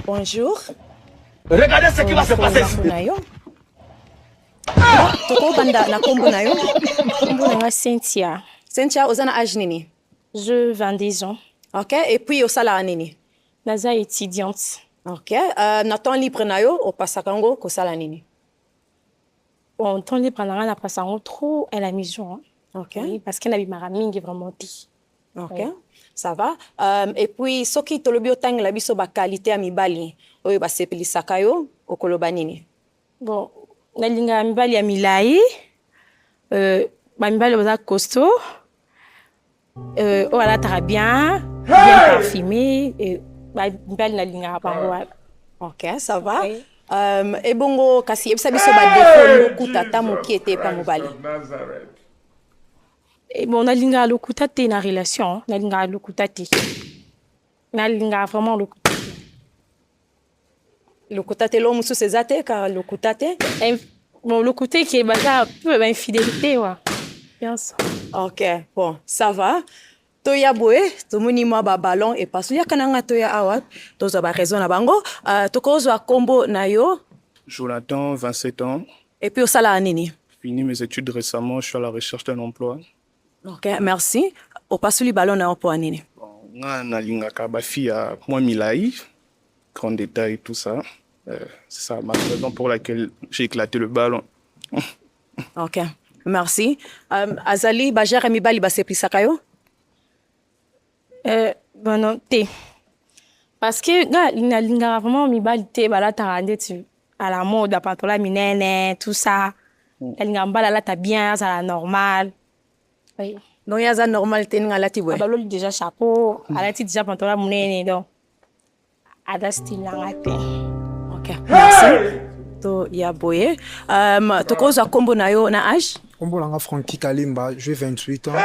Bonjour. Regardez ce qui va se passer ici. Ah! Tokobanda na kombo na yo. Kombo na nga Cynthia. Cynthia, oza na âge nini? Je 22 ans. OK, et puis osalaka nini? Naza étudiante. OK, euh, na temps libre na yo opasaka yango kosala nini? Bon, temps libre na nga napasa yango trop à la maison. Hein. OK. Oui, parce que nabimaka mingi vraiment te. Ok, oui. ça va. Euh, et puis soki tolobi otangela biso ba qualité ya mibali oyo basepelisaka yo okoloba nini? Bon, nalingaka mibali ya milai euh, bamibali baza costaud euh, oyo alataka bien bien parfumé euh, bamibali nalingaka bango wana ok ça va okay. Um, ebongo kasi yebisa biso badefo lokuta ata moke te epa mobali Eh, bon nalingaka lokuta te na relation nalingaka lokuta te nalingaka vraiment lokuta lokuta te lo mosusu eza te ka lokuta te bon lokuta eke baza peu bainfidélité wa nyonso ok bon ça va toya boye tomoni mwa babalon epaso yaka na nga toya awa tozwa baraison na bango uh, tokozwa nkombo na yo jonathan 27 ans epuis osalaka nini fini mes études récemment je suis à la recherche d'un emploi ok merci opasoli balon na yo mpo ya nini nga nalingaka bafi ya mwa milai grand détail tout ça euh, c'est ça ma raison pour laquelle j'ai éclaté le ballon Ok, merci. Um, azali bajare mibali baseplisaka yo? Euh, bana te. Parce que nga nalingaka vraiment mibali te balataka ndeti à la mode bapatola minene tout ça. Mm. Nalingaka mobali alata bien azala normal. Oui. Donc ye aza normal te ndenge alati boye? Abaloli déjà chapeau, mm. alati déjà pantola monene donc. aza style na nga te okay. merci to ya boye um, tokozwa nkombo na yo na age nkombo na nga franki kalimba jue 28 ans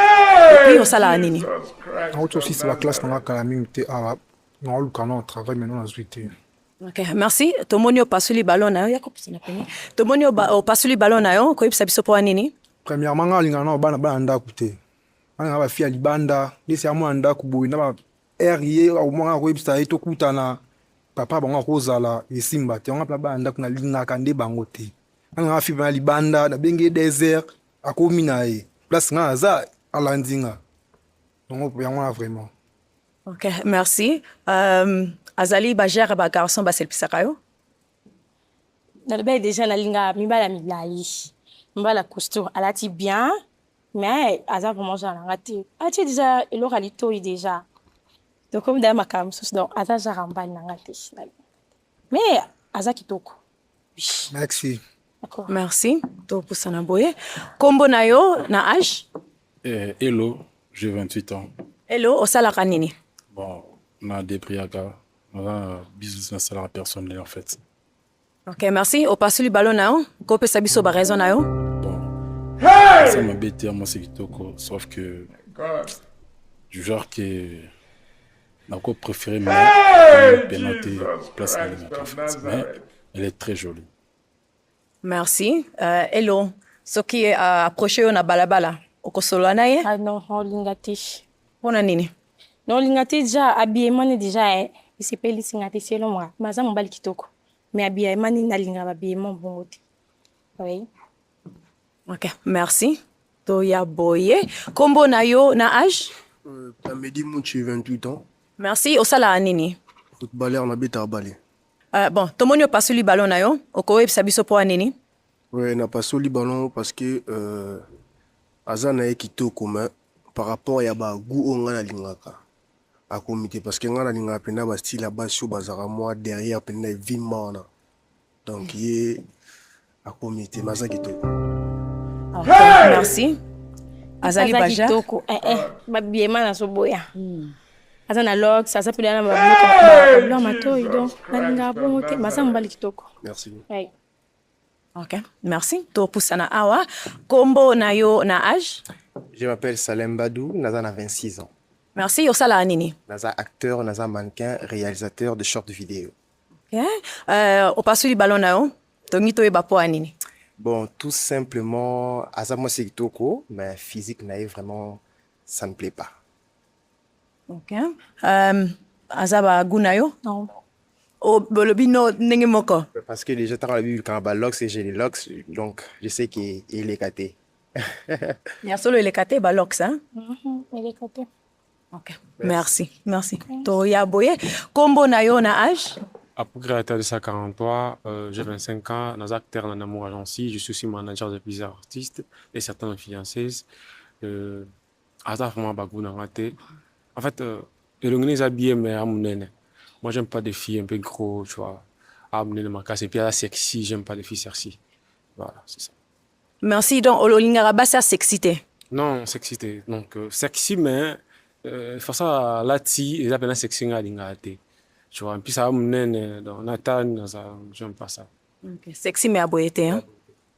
epuis osalaka nini nauti osisi baklasse na nga kala mingi te awa naoluka na travail maintenant nazwi te Okay, merci tomoni opasuli ballon na yo ya kopesa na pene tomoni opasuli ballon na yo koyebisa biso mpo nini premièrement nga alingaka na bana bana ndako te bana nga bafi ya libanda ndesi ya mwana ndako boye na Heure ye omona akoyebisa ye tokutana papa bango akozala esimba te yango mpe bana ndako nalingaka nde bango te anga nga fipe na libanda nabengi ye desert akomi na ye place nga aza alandi nga yango yango na vraiment ok merci euh, azali bagere ba garçon baselepisaka yo nalobaki deja nalingaka mibala milai mibala cousture alati bien Mais aza vraiment genre na nga te. Atie deja eloko ya litoyi deja. Tokomi deja makambo mosusu donc aza genre ya mobali na nga te. Mais aza kitoko. Merci. D'accord. Merci. Topusana boye. Kombo na yo na âge? Eh, hello, j'ai 28 ans. Hello, osalaka nini? Bon, na depriaka. Naza business nasalaka personnel en fait. Ok, merci. Opasuli balo na yo, kopesa biso ba raison na yo. Bon. Ça m'a bêté, moi c'est kitoko, sauf que du genre que nako préféré mais hey, pénaté place à mais elle est très jolie. Merci. Euh, hello. Ce qui est euh, approché on a balabala. Okosolola na ye? Ah non, olinga te. Pona nini? Non, olinga te déjà habillement déjà eh. Isepeli singa te selon moi. Maza mobali kitoko. mais habillement nini nalingaka bahabillement bongo te oui ok merci toya boye nkombo na yo na age euh, pamedi munchi 28 ans merci osalaka nini footballeur nabetaka bale uh, bon tomoni opasoli ballon na yo okoyebisa biso mpo ya nini oui napasoli ballon parce que euh, aza na ye kitoko mais par rapport ya bagout oyo ngai nalingaka Akomi te parce que nga nalingaka mpenza ba style ya basi oyo bazalaka mwa derrière mpenza evimba wana donc ye akomi te mais aza kitoko merci azali aza baja kitoko eh, eh, babiema nazoboya aza na lox aza mpe na babiloko ya matoyi donc nalingaka bongo te baza mobali kitoko merci Ouais. Ok, merci. Topusana awa. Kombo na yo na âge? Je m'appelle Salem Badou, naza na 26 ans. Merci. Osala nini? Naza acteur, naza mannequin, réalisateur de short vidéo. Ok. Euh, opasuli ballon na yo? Tongi toyeba po ya nini? Bon, tout simplement, aza mwasi kitoko, mais physique na ye vraiment ça ne plaît pas. Ok. Euh, aza ba goût na yo? Non. Oh, bolobi no ndenge moko. Parce que déjà tant la Bible quand ba locks et j'ai les locks donc je sais que il est caté. ya solo eleka te balox mhm, eleka te ok merci merci toya boye nkombo na yo na age Apougra Talissa 43, euh, j'ai 25 ans, dans acteur dans l'amour agency, je suis aussi manager de plusieurs artistes et certaines fiancées. Euh, aza vraiment bagu na nga te en fait euh, elongi eza bien mais amunene moi j'aime pas des filles un peu gros tu vois amunene makasi et puis aza sexy j'aime pas les filles sexy voilà c'est ça merci donc olingaka basi ya sexy te non sexy te donc euh, sexy mais euh, façon alati eza mpena sexy nga alingaka te tu vois mpisa ya munene donc natane aza j'aime pas ça okay. sexy mais aboye te hein?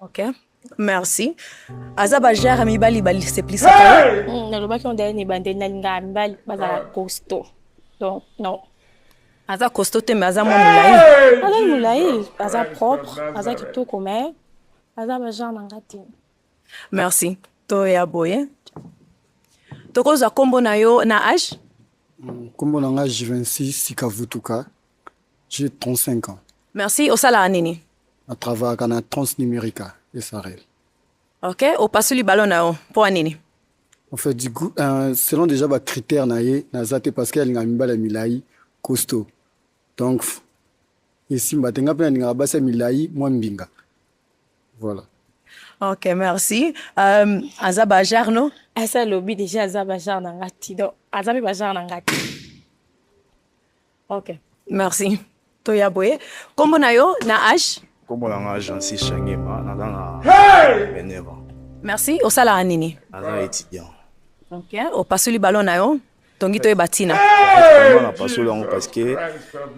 Ok. Merci. Aza ba genre mibali bali c'est plus ça. Hmm, na lobaki on dirait ni bande na linga mibali bazala costaud. Donc non. Aza costaud te mais aza mwa mulayi. Aza mulayi, aza propre, aza kitoko mais aza ba genre na ngati. Merci. To ya boye. Tokozwa kombo na yo na âge? Hmm, kombo na nga J26 Sikavutuka. J'ai 35 ans. Merci. Osalaka nini? Na travaillaka na Transnumerica SRL. Ok, opasuli ballon na yo mpo ya nini? En fait, du coup, euh, selon déjà ba critères na ye naza te parce que alinga mibala ya milai costaud. Donc esimba te nga mpe nalingaka basi ya milai mwa mbinga. Voilà. Ok, merci. Euh, aza ba genre no? Asa lobi déjà aza ba genre na nga ti. Donc aza mpe ba genre na nga ti. Ok, merci. Toya boye. Kombo na yo na age? Kombo na nga Jansi Shangema, naza na 29 ans. Merci. Osalaka nini? Naza étudiant. Ok, opasoli ballon na yo? tongi toyeba ntina na pasolo yango parce que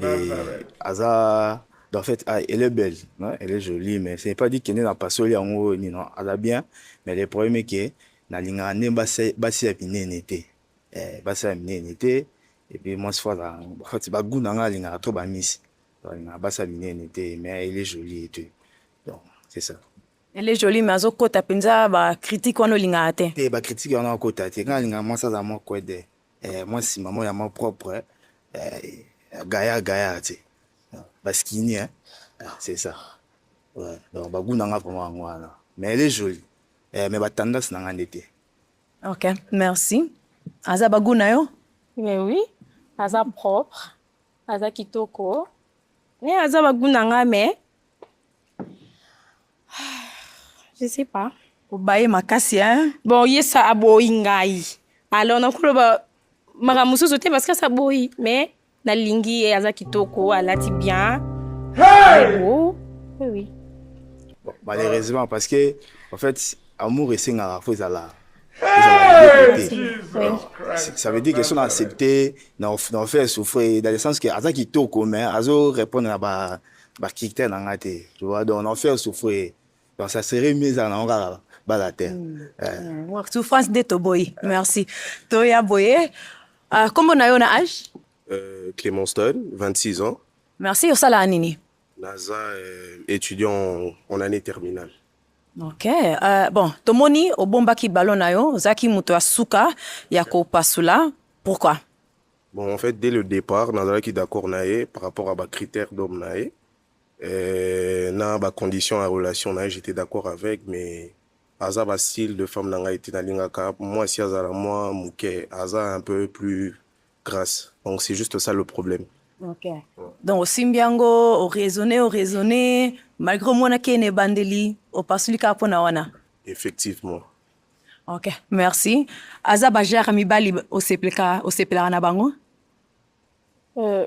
eh, aza en fait ah, elle est belle hein? elle est jolie mais c'est pas dit kende na pasoli yango nino aza bien mais le problème est que nalingaka nde basi ya minene te eh basi ya minene te et puis mwasi fo azala en fait ba goût na nga alingaka trop ba miss alingaka basi ya minene te mais elle est jolie et tout donc c'est ça elle est jolie mais azokota mpenza bacritique wana olingaka te te bacritique wana akota te ngai alingaka mwasi azala mwa kwede eh, mwa nsima mwa ya mwa propre eh, gaya gaya te baskini eh? Ah, c'est ça ouais. donc bagu na ngai vraiment yango wana mais elle est jolie eh, mais batendance na ngai nde te Ok, merci. Aza bagu na yo? Mais oui, aza propre, aza kitoko. Mais aza bagu na nga mais je sais pas. Obaye makasi hein? Bon, yesa aboyi ngai. Alors nakoloba makambo mosusu te parce que asa boyi mais nalingi ye aza kitoko alati bien hey! oh, oui, oui. Bon, malheureusement parce que en fait amour esengaka fo ezala ça veut dire que son accepté na offert souffrir dans le sens que aza kitoko mais azo répondre na ba ba critères na nga te tu vois donc na offert souffrir Donc ça serait mieux ezala nango kaka bala te. Mm. Eh. Mm. Souffrance nde toboyi. Merci. Toya boye. Uh, kombo na yo na âge? Euh, Clément Stone, 26 ans. Merci. Osala nini? Naza euh, étudiant en année terminale. ok uh, bon tomoni obombaki ballon na yo ozalaki moto ya suka ya kopasula pourquoi bon en fait dès le départ nazalaki d'accord na ye par rapport à bacritère d'homme na ye Euh, na ba conditions ya relation na ye j'étais d'accord avec mais aza ba style de femme na ngai te nalingaka mwasi azala mwa moke aza un peu plus grasse donc c'est juste ça le problème okay. ouais. donc osimbi yango oraisonne oraisonne malgré omonaki na ebandeli opasuli kaka mpona wana effectivement ok merci aza bajare mibali osepelaka na bango euh,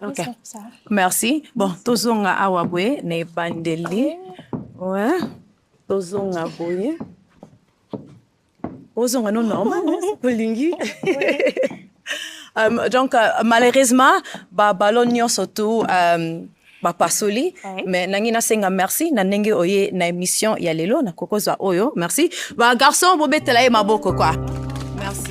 Okay. Merci. Bon, tozonga awa boye na ebandeli. Ouais. Tozonga boye. Ozonga no normal, olingi. Euh, donc euh, malheureusement ba ballon nyonso tout euh, bapasoli Oui. mais nangi nasenga merci na ndenge oye na émission ya lelo nakokozwa oyo merci ba garçon bobetela ye maboko kwa merci